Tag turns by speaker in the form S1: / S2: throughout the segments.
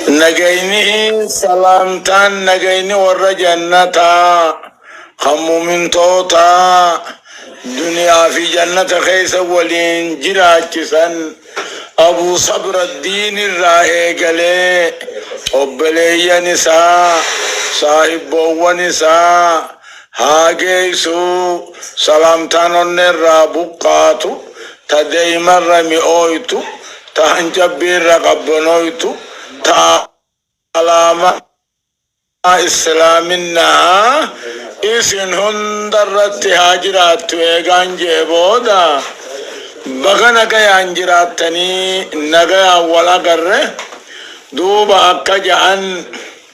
S1: Nagayni, salaamtaan, nagayni warra jannataa, kan mu'mintootaa, duniyaa fi jannata keessa waliin jiraachisan, Abuu Sabraddiin irraa eegalee, obboleeyyan isaa, saahibboowwan isaa, haa geessu Salaamtaan onneerraa buqqaatu Ta daa'imarra mi'ooytu Ta hancabbiirra qabbanooytu Ta alaamaa Islaaminaa Isin hundarratti haa jiraattu Eegaan je'e booda Baga nagayaan jiraattanii Nagayaan wal agarre Duuba akka ja'an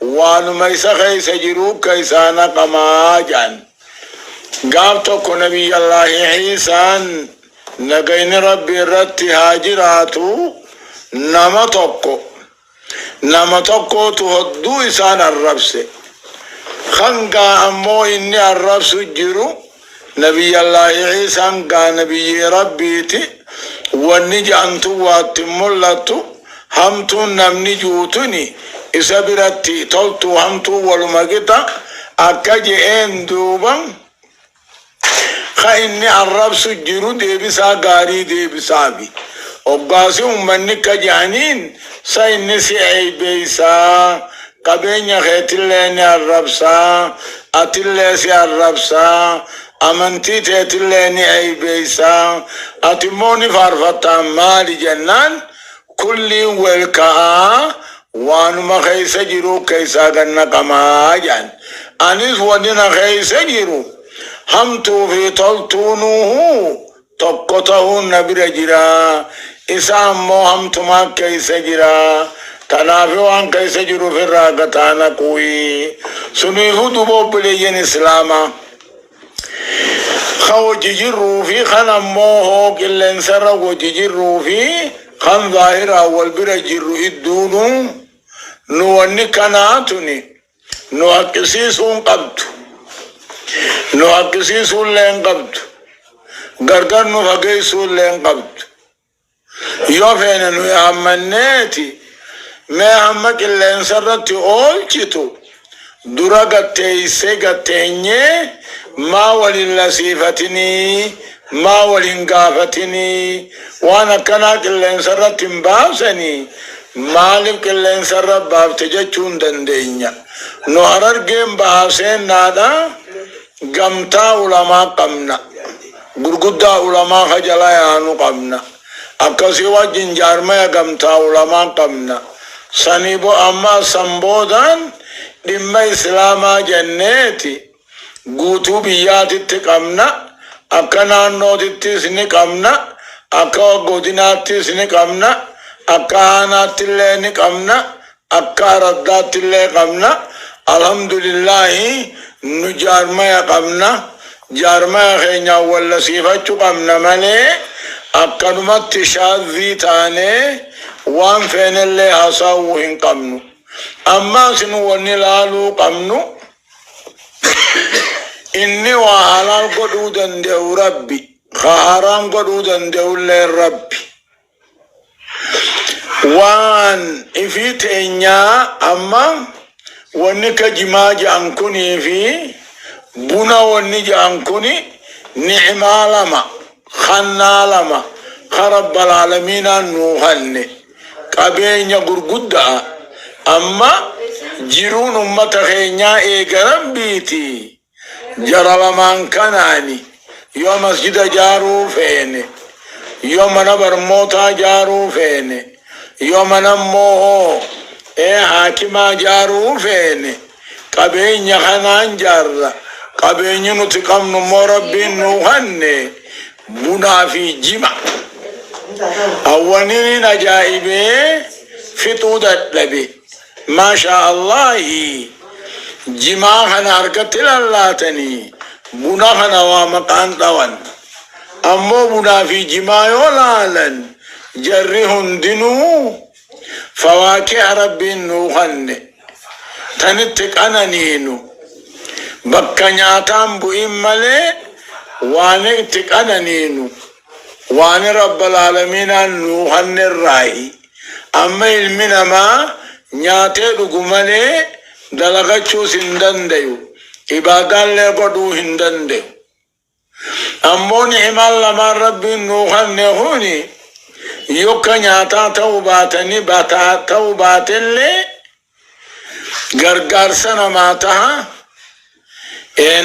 S1: waanuma isa keessa jiruu ka isaa naqamaa ja'an. Gaaf tokko Nabiyyallaahi Iisaan nagayni Rabbi irratti haa jiraatu nama tokko nama tokkootu hodduu isaan arrabse. Hangaa ammoo inni arrabsu jiru Nabiyyallaahi Iisaan gaa nabiyyii Rabbiiti, wanni je'an tun waa itti hin mul'attu, hamtuun namni ji'u tuni isa biratti toltuu hamtuun waluma qixa, akka je'een duuba ka inni arrabsu jiru deebisaa gaarii deebisaafi. Hoggaasi ummanni akka je'aniin sa inni si eeybeeysaa? Qabeenya keetillee ni arrabsa, atillee si arrabsa, amantii teetillee ni eeybeessa, ati immoo ni faarfatta, maali jennaan, kulliin wel ka'a, waanuma keessa jiruu keessaa gad naqama jedhan. Anis wonni na keessa jiru hamtuu fi toltuunuu Tokko tahuun na bira jira, isa ammoo hamtumaa keessa jira, tanaafi waan keessa jiru ufirraa gataa naqu'i. Suniifuu duuba obboleeyyan Islaamaa, ka wajji jirruu fi kan ammoo hoo qilleensarra wajji jirruu fi kan zaahiraan wal bira jirru idduunuu, nu wanni kanaa tuni, Nu haqqisiisuu hin qabdu. Nu haqqisiisuu illee hin qabdu. Gargar nu fageessuu illee hin qabdu. Yoo feene nuyi hammanneeti mee hamma qilleensa irratti oolchitu dura gad teessee gad teenyee maa wal hin lasiifatinii Maa wal hin gaafatinii waan akkanaa qilleensarratti hin baasanii maalif qilleensarra baafte jechuu hin dandeenya nu harargeen bahaa seennaadha gamtaa ulamaa qabna gurguddaa ulamaa ka jala yaanu qabna akkasii wajjin jaarmaya gamtaa ulamaa qabna sanii bo ammaa san boodaan dhimma islaamaa jenneeti Guutuu biyyaatitti qabna, akka naannootittis ni qabna, akka godinaattis ni qabna, akka aanaattillee ni qabna, akka araddaattillee qabna. Alhamdulillaahi nu jaarmaya qabna. Jaarmaya keenyaan wallasiifachu qabna malee akkanumatti shaazzii taanee waan feenellee hasaawuu hin qabnu. Ammaas nu wanni laaluu qabnu Inni waa halaal godhuu danda'u Rabbi, ka haraam godhuu danda'ulleen Rabbi. Waan ifii teenyaa amma wanni ka jimaa ja'an kunii fi buna wanni ja'an kuni ni'imaa lama. Kannaa lama ka Rabbalaalamiinaan nuu kanne qabeenya gurgudda'a, amma jiruun ummata keenyaa eega Rabbiiti, jara lamaan kanaan yoo masjida jaaruu feene, yoo mana barmootaa jaaruu feene, Yoo mana immoo ee haakimaa jaaruu feene qabeenya kanaan jaarra. Qabeenyi nuti qabnu immoo rabbiin nuu kanne bunaa fi jima. Awwaninin ajaa'ibee fixuu dadhabe. Masha Allahi jimaa kana harkatti lallaatani buna kana waa maqaan dhawan ammoo bunaa fi jimaa yoo laalan jarri hundinuu fawaakiha rabbiin nuu kanne tan itti qananiinu bakka nyaataan bu'in malee waan itti qananiinu waan rabbal aalamiinaan nuu kanne irraahi Amma ilmi namaa nyaatee dhugu malee dalagachuus hin dandayu, ibaadaallee godhuu hin dandayu. Ammoo ni'imaan lamaan Rabbiin nuu kanne kuni yokka nyaataa ta'uu baatanii bataa ta'uu baatellee gargaarsa namaa taha,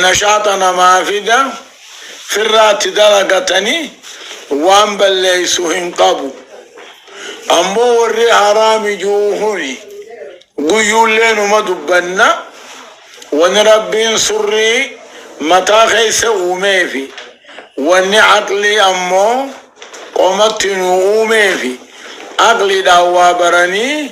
S1: nashaaxa namaa fida, firraatti dalagatanii waan balleessu hin qabu. Ammoo warri haraami ji'u kuni guyyuullee numa dubbanna wani Rabbiin surrii mataa keessa uumeefi wanni aqlii ammoo qomatti nu uumeefi aqliidhaan waa baranii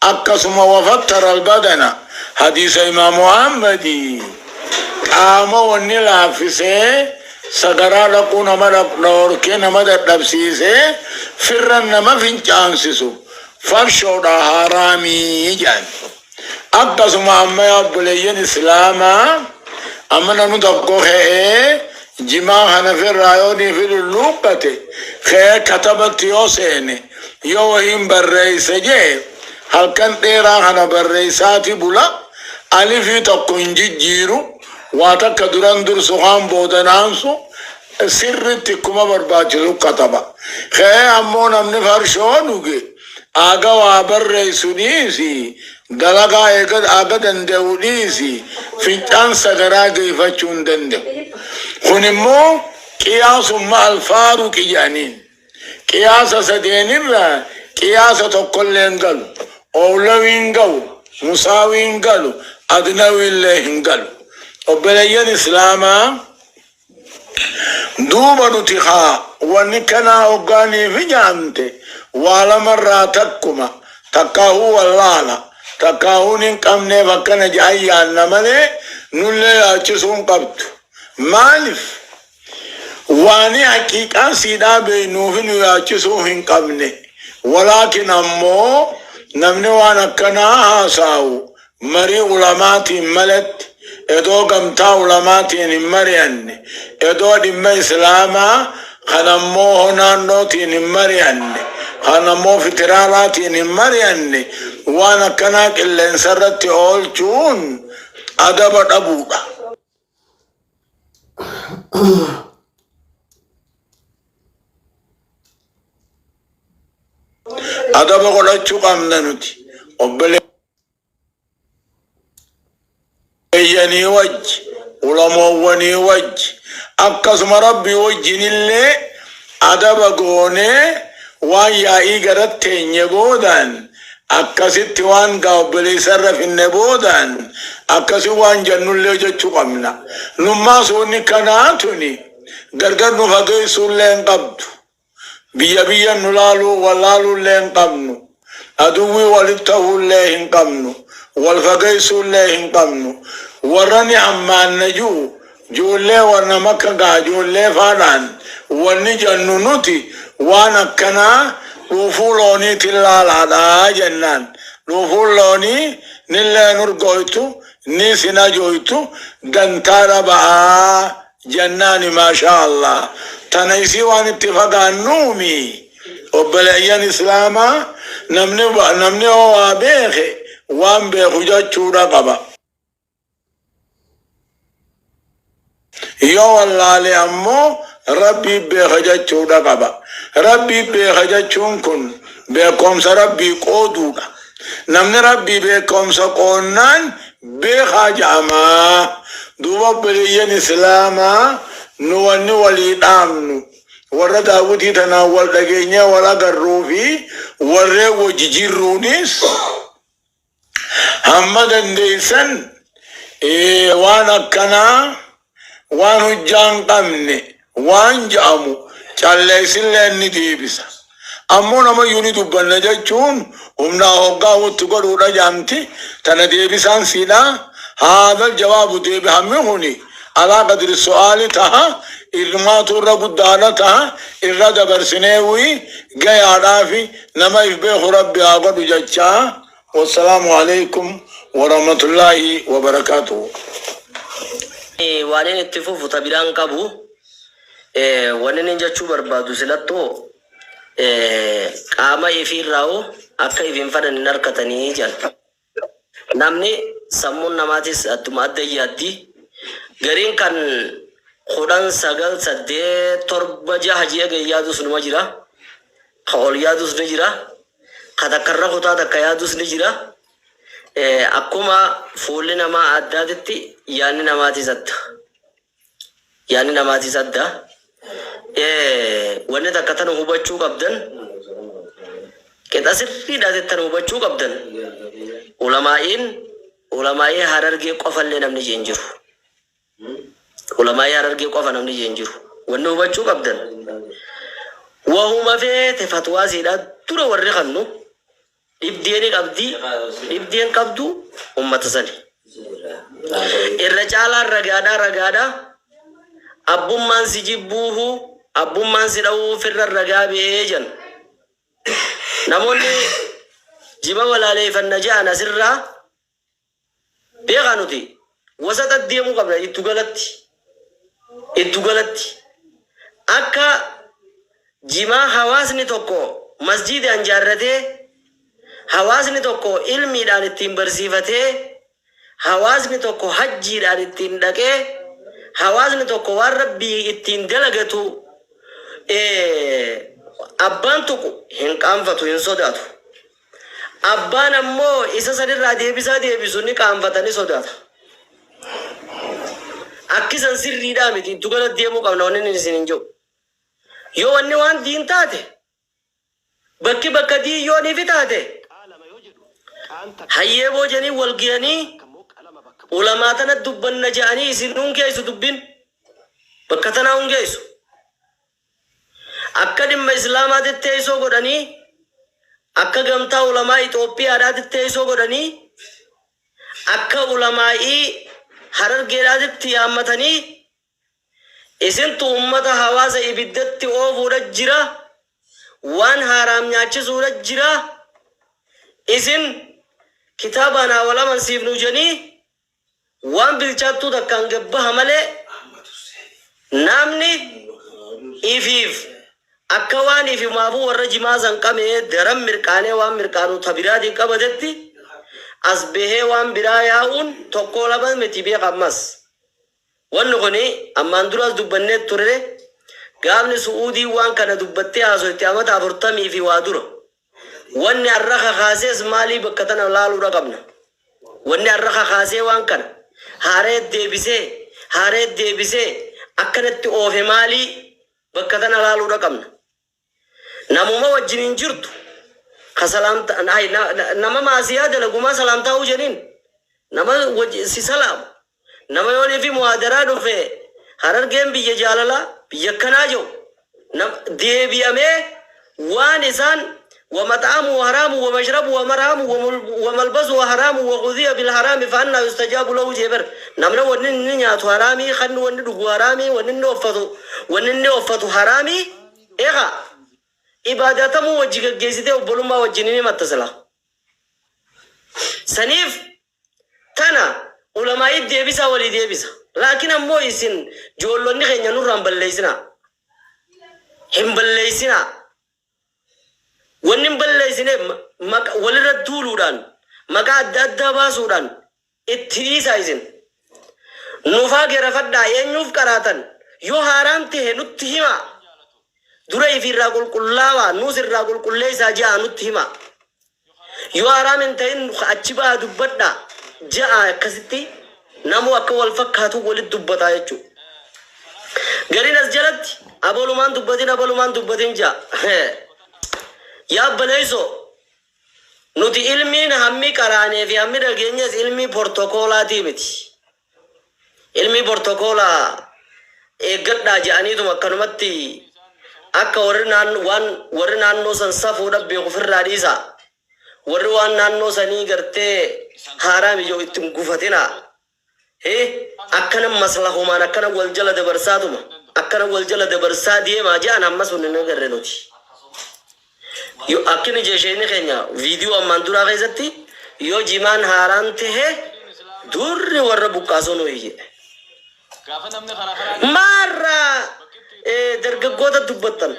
S1: Akkasuma wafattara albadana hadiisa imaamu Ahmadi qaama wanni laaffisee sagaraa dhaquu nama dhorkee nama dadhabsiisee firran nama fincaansisu farshoodha haaraamii jedhan. Akkasuma amma yaa obboleeyyan islaamaa amana nu tokko ka'ee Jimaa kana firraa yoo nii fidu luubbate ka'ee katabatti yoo seene yoo wahiin barreesse je'e halkan dheeraa kana barreessaati bula alifii tokko hin jijjiiru waa takka duran dursu kaan boodan aansu sirritti kkuma barbaachisu kataba. Ka'ee ammoo namni farshoo dhuge. Aga waa barreessu dhiisi, dalagaa eega aga danda'u dhiisi, fincaan sagaraa deefachuu hin danda'u. Kun immoo qiyaasumma al-faaruqi jedhaniin. Qiyaasa sadeen irra qiyaasa tokko illee hin galu. Owlawii hin gahu, musaawii hin galu, adnawii illee hin galu. Obboleeyyan Islaamaa! Duuba nuti kaa wani kanaa hoggaa niif hijaamte waa lama irraa takkuma takkaahuu wallaala takkaahuu nin qabneef akkana jedhan yaanna malee nullee yaachisuu hin qabdu maalif waani haqiiqaa siidhaa beeynuufi nu yaachisuu hin qabne walaakin ammoo namni waan akkanaa haasaawu Marii ulamaatiin malatti, edoo gamtaa ulamaatiin hin mari'anne, edoo dhimma islaamaa kan ammoo ho naannootiin hin mari'anne, kan ammoo fitiraalaatiin hin mari'anne waan akkanaa qilleensarratti oolchuun adaba dhabuudha. Adaba godhachuu qabna nuti. Obbolee. eeyyanii wajji ulamoowwanii wajji akkasuma rabbii wajjin illee adaba goonee waan yaa'ii garat teenye boodaan akkasitti waan gaa obboleessa irra finne boodaan akkasi waan jannullee jechuu qabna nummaa suunni kanaa tuni gargar nu fageessuullee hin qabdu Biyya biyyan nu laaluu wal laaluullee hin qabnu. Aduwwii walitti tahuullee hin qabnu. Wal fageessuullee hin qabnu. Warrani hammaanna ju'u joollee warna makka gaha joollee faadhaan wanni jannu nuti waan akkanaa dhuufuu looniitin laalaadha jennaan dhuufuun loonii nillee hin urgooytu niis hin ajooytu dantaa dhaba'aa Jannaani maashaa Allah tana isii waan itti fagaannuu mii obboleeyyan islaamaa namni namni hoo waa beeke waan beeku jachuudha qaba yoo wallaale ammoo rabbii beeka jachuudha qaba rabbii beeka jachuun kun beekoomsa rabbii qooduudha namni rabbii beekoomsa qoonnaan beekhaa ja'amaa duuba obboleeyyan islaamaa nu wanni walii dhaamnu warra daawwitii tanaan wal dhageenyee wal agarruu fi warreen wajji jirruunis hamma dandeeysan waan akkanaa Waan hujjaa hin qamne waan ja'amu calleessilleen ni deebisa. Ammoo namayyuu ni dubbanna jachuun humnaa hoggaa hutti godhuudha ja'amti. Tana deebisaan siidhaa, Haadhal jawaabu deebihammi kuni alaa qadri su'aali taha, ilmaatu irra guddaadha taha, irra dabarsineewii gayaadhaafi nama if beeku Rabbi haa godhu jachaa Wassalamu Aleykum Woramatulahi Wobarakatuhu.
S2: Ani waanin itti fufu ta biraa hin qabu. Waninin jechuu barbaadu silattoo qaama ifii irraa hoo akka if hin fanan hin arkatanii jedhan. Namni sammuun namaatis attuma adda yaaddi. Gariin kan kudhan, sagal, saddeet, torba, jaha jedhee gad yaadus numa jira. Ka ol yaadus ni jira, ka takka irra kutaa takka yaadus ni jira. Akkuma fuulli namaa addaatitti yaanni namaatiis adda. Yaanni namaatiis adda. Wanni takka tana hubachuu qabdan, qixa sirriidhaatitti tana hubachuu qabdan, ulamaa'iin ulamaa'ii harargee qofallee namni je'e hin jiru. Ulamaa'ii Harargee qofa namni jee hin jiru. Wanni hubachuu qabdan wahuma feete fatwaa siidhaa dura warri kannu dhibdee ni qabdi dhibdee hin qabdu ummata sani. Irra caalaan ragaadhaa ragaadhaa abbummaan si jibbuuhu abbummaan si dhawuu firra ragaa ba'ee jan. Namoonni jiba walaaleeyfanna ja'an asirraa Beekaa nuti wasaxa deemuu qabna iddugalatti iddugalatti akka jimaa hawaasni tokko masjiidaan jaarratee hawaasni tokko ilmiidhaan ittiin barsiifatee hawaasni tokko hajjiidhaan ittiin dhaqee hawaasni tokko waan rabbii ittiin dalagatu abbaan tuqu hin qaanfatu hin sodaatu Abbaan ammoo isa san irraa deebisaa deebisu ni qaanfata, ni sodaata. Akki san sirriidhaa miti, ittu gala deemuu qabna wanni inni isiniin je'u. Yoo wanni waan diin taate, bakki bakka diin yoo nifi taate, hayyee boo je'anii wal geyanii, ulamaa tanatti dubbanna je'anii isin nun geessu dubbin, bakka tanaa hun geessu. Akka dhimma Islaamaatitti teessoo godhanii, akka Gamtaa Ulamaa Ixoophiyaadhaatitti teessoo godhanii, akka Ulamaa'ii Harargeedhaatitti yaammatanii, isintu ummata hawaasa ibiddatti oofuudha jira, waan haaraam nyaachisuudha jira, isin kitaabaan haa wal amansiifnu jedhanii, Waan bilchaattuu takkaan gad baha malee, naamni ifiif akka waan ifimaafuu warra jimaa san qamee daran mirqaanee waan mirqaanu ta biraatiin qabatetti, as bahee waan biraa yaa'uun tokkoo lama miti beekha ammas. Wanni kuni ammaan duraas dubbannee turre, gaafni Su'uudiin waan kana dubbattee haasoyte amata afurtamii fi waa dura. Wanni arra kakaasees maalii bakka tana laaluudha qabna. Wanni arra kakaasee waan kana haarayat deebisee haarayat deebisee akkanatti oofe maalii bakka tana laaluudha qabna. Namuma wajjiniin jirtu ka salaamta hay nama maasiyaa dalagu maa salaamtaa huu jeniin? Nama wajji si salaamu. Nama yoo live muhaadaraa dhufe Harargeen biyya jaalalaa, biyya akkanaa je'u nam deebi'amee waan isaan Wa math'amuhu haraamun wa mashrabuhu wa marhamun wa mul wa malbasuhu haraamun wa ghudhiya bil haraami fa annaa yustajaabu lahu je'e bar. Namni wanni inni nyaatu haraamii, khanni wanni dhugu haraamii, wanni inni offatu wanni inni offatu haraamii, eegaa ibaadaa tamuu wajji geggeessitee obbolummaa wajjin hin himatta silaa. Saniif Tana ulamaa'iit deebisaa walii deebisa. Laakiin ammoo isin joollonni keenya nurraa hin balleessinaa. Hin balleessinaa. Wanni hin balleessineef maqa walirratti duuluudhaan, maqaa adda addaa baasuudhaan itti dhiisaa isin. Nufaa gerafadhaa eenyuuf qaraatan? Yoo haaraan tahe nutti himaa. Dura ifiirraa qulqullaawaa nuus irraa qulqulleessaa je'aa nutti himaa. Yoo haraam hin ta'in ka achi baha dubbadhaa ja'a akkasitti namuu akka wal fakkaatu walitti dubbataa jechuudha. Gariin as jalatti abalumaan dubbatin abalumaan dubbatin ja'a. Yaa baleessoo nuti ilmiin hammi qaraanee fi hammi dhageenyes ilmii portokoolaatii miti. Ilmii bortokoolaa eeggadhaa jedhaniituma akkanumatti akka warri naannoo waan warri naannoo san safuudha beeku ofirraa dhiisaa. Warri waan naannoo sanii gartee haaraa mija'u itti hin gufatinaa. Hi akkana maslahumaan akkana wal jala dabarsaatuma akkana wal jala dabarsaa deemaa jedhan amma sun hin agarre nuti. Yo akkini je sheeyni keenya video ammaan duraa keessatti yo jimaan haaraan tehe duurri warra buqqaasuu nu iyye. Maarra dargaggoota dubbattan?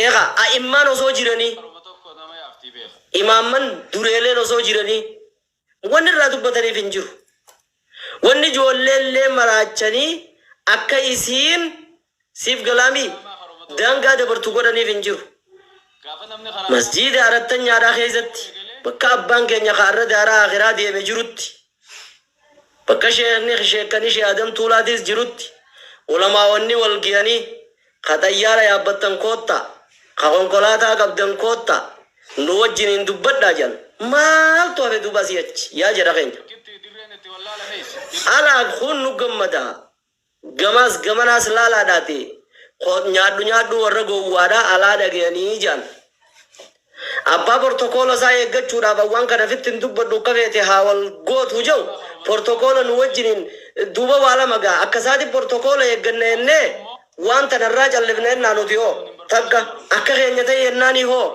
S2: Eega a'immaan osoo jiranii, imaamman dureeleen osoo jiranii. Wanni irraa dubbataniif hin jiru. Wanni ijoolleellee maraachanii akka isiin, siif galaa mii? daangaa dabartu godhaniif hin jiru. Masjiida Arattanyaadhaa keessatti, bakka abbaan keenya ka arra daaraa aakhiraa deeme jirutti, bakka sheekhni, sheekkani Sheeh Adam Tuulaatiis jirutti, ulamaa'onni wal gayanii, Ka xayyaara yaabbattan koottaa, ka konkolaataa qabdan koottaa, nu wajjiniin dubbadhaa jedhan. Maaltu hafe duuba asii achi? Yaa jedha keenya. Alaa kun nu gammada. Gamaas gamanaas laalaadhaatii, Nyaadhu nyaadhuu warra gowwaadhaa alaa dhagayanii jedhan. Abbaa portokoola isaa eeggachuudhaaf awwaan kana fitti hin dubbadhu akka feete haa wal gootu jau portokoola nu wajjiniin duuba waa lama gaa akka isaati portokoola eegganna jennee waan tana irraa callifna jennaa nuti hoo takka akka keenya ta'i jennaanii hoo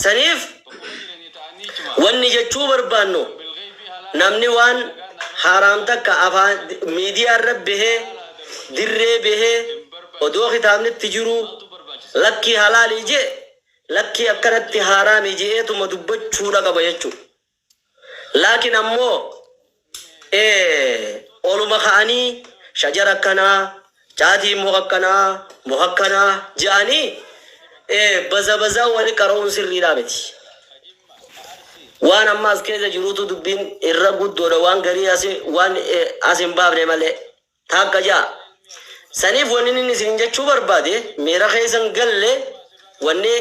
S2: saniif Wanni jechuu barbaannu namni waan haaraam takka afaan miidiyaa irra bahee dirree bahee odoo kitaabni itti jiruu lakkii halaali je'e lakkii akkanatti haaraami je'eetuma dubbachuudha qaba jechuudha. Laakiin ammoo oluma ka'anii shajara akkanaa, caatiin muka akkanaa, muka akkanaa je'anii bazabazaa wali qara'uun sirriidhaa miti. Waan amma as keessa jiruutu dubbiin irra guddoodha waan garii as hin baafne malee. Taakka ja'a. Saniif wanni inni isiniin jechuu barbaade miira keessa hin galle, wanni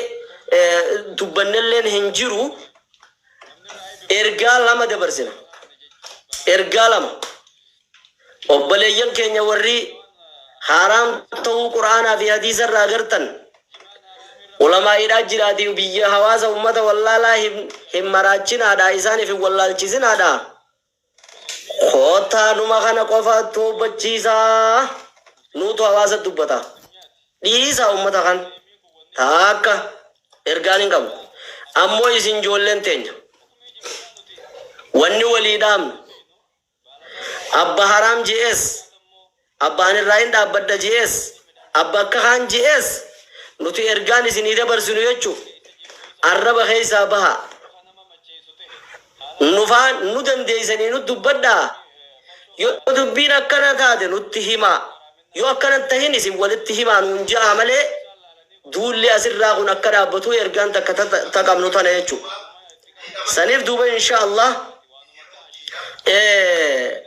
S2: dubbannelleen hin jiru, ergaa lama dabarsina. Ergaa lama. Obboleeyyan keenya warri haaraam ta'uu Qur'aanaa fi hadiisa irraa agartan, ulamaa'iidhaa jiraatii biyya hawaasa ummata wallaalaa hin maraachinaadhaa, isaaniif hin wallaalchisinaadhaa, Koottaa numa kana qofa toobbachiisaa nuutu hawaasa dubbata. Dhiisaa ummata kan taakka ergaan hin qabnu. Ammoo isin joolleen teenya. Wanni walii dhaamnu. Abba haraam JS. Abba ani irraa in dhaabbadha je'ees, abba akka kaan je'ees, nuti ergaan isinii dabarsinu jechuuf, arraba keessaa bahaa. Nufaa, nu dandeessanii nut dubbadhaa, yoo dubbiin akkana taate nutti himaa, yoo akkana hin tahin isin walitti himaa nuun je'aa malee, duulli as irraa kun akka dhaabbatuu ergaan takka ta qabnu tana jechu saniif duuba insha Allah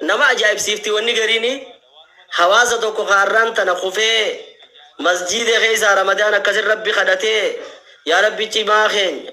S2: nama ajaa'ibsiifti wanni gariini hawaasa tokko kaarraan tana kufee masjiida keessaa ramadaan akkasin rabbi kadhatee yaa rabbi cimaa keenya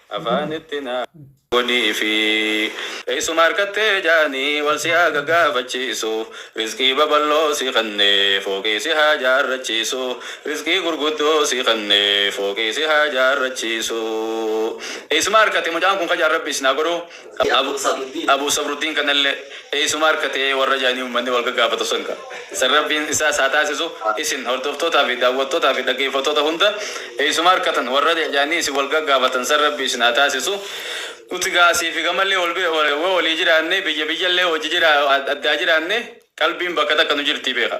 S3: Afaan itti naa godhiifi. Eessuma arkattee jaanii wal si haa gagaafachiisu Rizqii babal'oo si kennee fooqii si haa jaarrachiisu Rizqii gurguddoo si kennee fooqii si haa jaarrachiisu Eessuma arkate mucaan kun kajaan rabbi isin haa godhu Abuu Sabruddin kanallee eeysuma arkate warra ja'anii ummanni wal gaggaafatu san ka. San Rabbiin isaas haa taasisu isin hordoftootaa fi daawwattootaa fi dhaggeeyfattoota hunda eeysuma arkatan warra ja'anii isin wal gaggaafatan san Rabbi isin haa taasisu Nuti gaa asii fi gamallee wal bira woo walii jiraannee biyya biyyallee wajji jiraa addaa jiraannee qalbiin bakka takka nu jirtii beekha.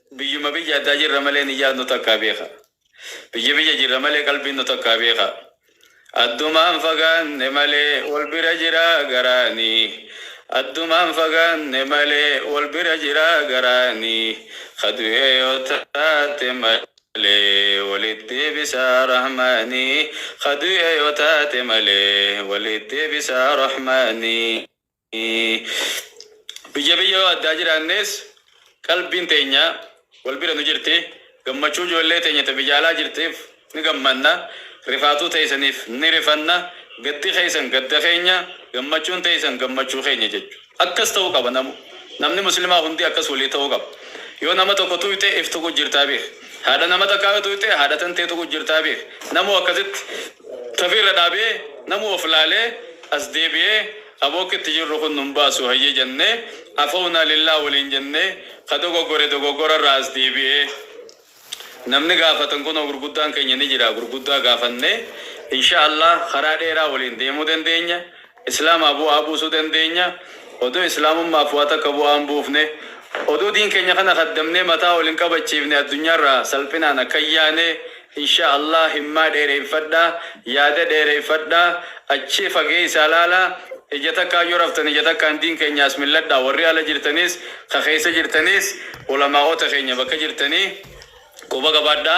S3: Biyyuma biyya addaa jirra malee niyyaan nu takkaa beekaa. Biyya biyya jirra malee qalbiin nu takkaa beekaa. Addumaan fagaanne malee wal bira jira garaani. Addumaan fagaanne malee wal bira jira garaani. Ka du'ee yoo taate malee walitti deebisa Rahmaani. Ka du'ee yoo taate malee walitti deebisa Rahmaani. Biyya biyya yoo addaa jiraannees qalbiin teenya wal bira nu jirti. Gammachuu ijoollee teenya ta biyya alaa jirtiif ni gammanna, rifaatuu teeysaniif ni rifanna, gaddi keeysan gadda keenya, gammachuun teeysan gammachuu keenya jechu. Akkas ta'uu qaba namu. Namni muslimaa hundi akkas walii ta'uu qaba. Yoo nama tokko tuuyxe if tuquu jirtaa beekhi. Haadha nama takkaa yoo tuuyxe haadha tantee tuquu jirtaa beekhi. Namuu akkasitti tafii irra dhaabee namuu of laalee as deebi'ee Aboo akka itti jirru kun nun baasu hayyee jennee Afownaa lillaah waliin jennee ka dogoggore dogoggora irraa as deebi'ee namni gaafatan kunoo gurguddaan keenya ni jira gurguddaa gaafannee inshaa allaah karaa dheeraa waliin deemuu dandeenya islaamaa bu'aa buusuu dandeenya odoo islaamummaaf waa takka bu'aa hin buufne odoo diin keenya kana kaddamnee mataa ol hin qabachiifne addunyaa irraa salphinaan akka hin yaane Insha Allah himmaa dheereyfadha yaada dheereyfadha achii fageeysaa laala ija takkaan yoo raftan ija takkaan diin keenya as milladha warri ala jirtaniis ka keeysa jirtaniis ulamaa'oota keenya bakka jirtanii quba qabaadha.